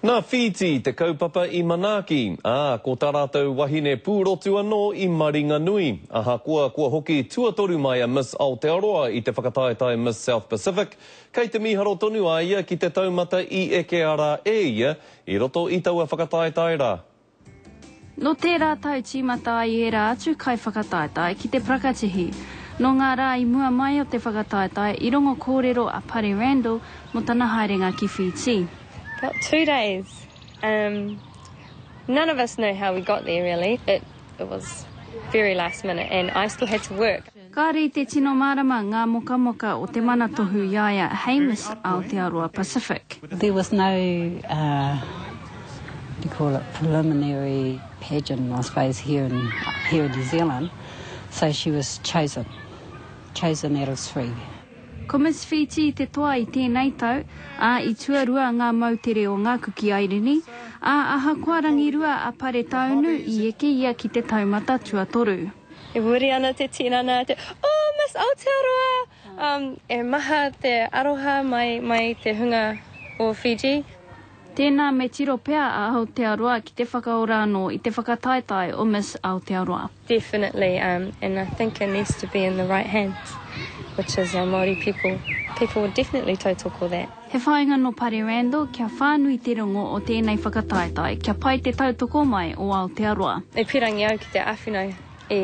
Nā Whītī te kaupapa i manaaki, ā, ko tā rātou wahine pūrotu anō i Maringanui. Ahakoa kua hoki tuatoru mai a Miss Aotearoa i te whakataetae Miss South Pacific, kei te mīharo tonu a ia ki te taumata i ekea rā e ia i roto i taua whakataetae rā. Nō tērā tau tīmata ai ērā atu kaiwhakataetae ki te prakatihi. Nō ngā rā i mua mai o te whakataetae i rongo kōrero a Pare Randall mō tana haerenga ki Whītī. About two days um none of us know how we got there really it was very last minute and I still had to work. Kāore i te tino mārama ngā mokamoka o te mana tohu i a ia, Hames, Aotearoa Pacific. There was no what do you call it, preliminary pageant I suppose here in here in New Zealand so she was chosen, chosen out of three. Ko Miss Whītī te toa i tēnei tau, ā, i tuarua ngā moutere o ngā kuki airini, ā, ahakoa rangirua a Paretaunu, i eke ia ki te taumata tuatoru. E muri ana te tinana, te, Oh, Miss Aotearoa! Um, e maha te aroha mai, mai te hunga o Fiji. Tēnā me tiro pea a Aotearoa ki te whakaora anō i te whakataetae o Miss Aotearoa. Definitely, um, and I think it needs to be in the right hands, which is our Māori people. People would definitely tautoko that. He whāinga nō Pare Randall kia whānui te rongo o tēnei whakataetae, kia pai te tautoko mai o Aotearoa. E pīrangi au ki te āwhina i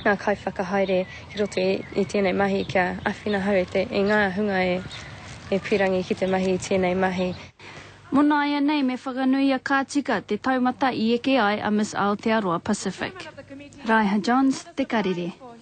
ngā kaiwhakahaere ki roto i tēnei mahi kia āwhina hou i ngā hunga e pīrangi ki te mahi i tēnei mahi. Mō nāianei me whakanuia ka tika te taumata i eke ai a Miss Aotearoa Pacific. Raiha Johns, Te Karere.